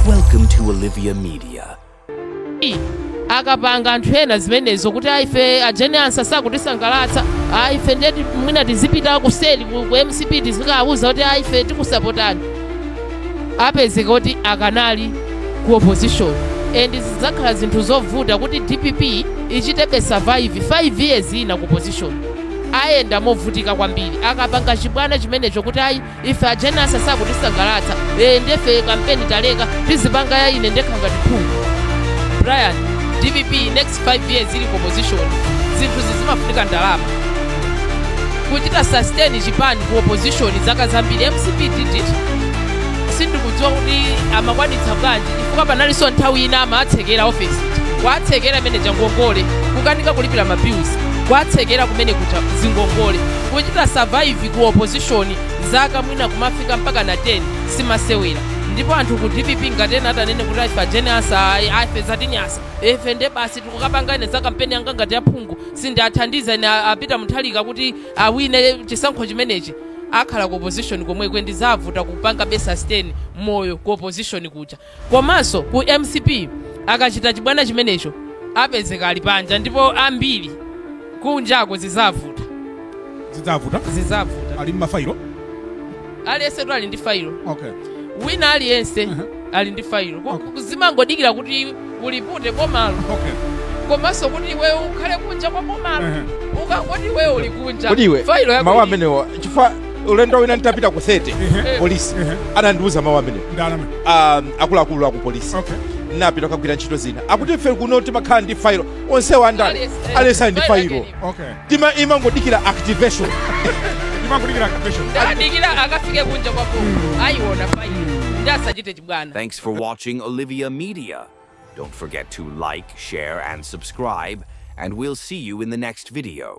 Welcome to Olivia Media. I, akapanga anthu ena zimenezo kuti aife a Jane Ansah sakutisangalatsa aife ndiye ti- mwina tizipita kuseli ku mcp tizikawauza kuti aife tikusapotani apezeka kuti akanali ku opposition and zidzakhala zinthu zovuta kuti dpp ichitebe survive 5 years ina ku opposition ayenda movutika kwambiri akapanga chibwana chimenecho kuti ayi ife a Jane Ansah sakutisangalatsa ee nde ife kampeni taleka tizipanga ya ine ndekha ngati phungu brian dpp next 5 years ili ku opposition zinthu zizimafunika ndalama kuchita sustain chipani ku opposition zaka zambiri mcp did it sindikudziwa kuti amakwanitsa bwanji chifukwa panalinso nthawi ina amatsekera ofesi kuwatsekera kumene kuja ngongole kukanika kulipira mabills kwatsekera kumene kuja zingongole kuchita survive ku opposition zaka mwina kumafika mpakana 10 si masewera ndipo anthu ku dpp ngati ena atanene kuti aife a Jane Ansah ayi, aife zatinyansa ife nde basi tikukapanga ine za kampeni yanga ngati yaphungu sindiathandiza ine a Peter Mutharika kuti awine chisankho chimenechi akhala ku opposition komweko ndi zavuta kupangabe sustain moyo ku opposition kuja Komanso ku mcp akachita chibwana chimenecho apezeka ali panja ndipo ambiri kunjako zidzavuta Zidzavuta? zidzavuta Ali m'mafailo? aliyensetu ali ndi failo Okay. wina aliyense ali ndi failo Ku- Okay. ku- zimangodikira kuti ulipute bomalo Okay. komanso kuti iwe ukhale kunja kwa bomalo Ehe. ukangoti iwe uli kunja Kodi iwe failo yako mawu ili- amenewa chifukwa ulendo wina nditapita ku 30 Ehe. polisi Ehe. anandiuza mawu amenewa um, akuluakulu aku polisi okay napita kukagwira ntchito zina akuti ife kuno timakhala ndi failo onsewo andale aliyense ali ndi failo okay tima imangodikira activation imangodikira activation adikira akafike kunja kwako ayiona failo nde asachite chibwana Thanks for watching Olivia Media. Don't forget to like, share, and subscribe, and we'll see you in the next video.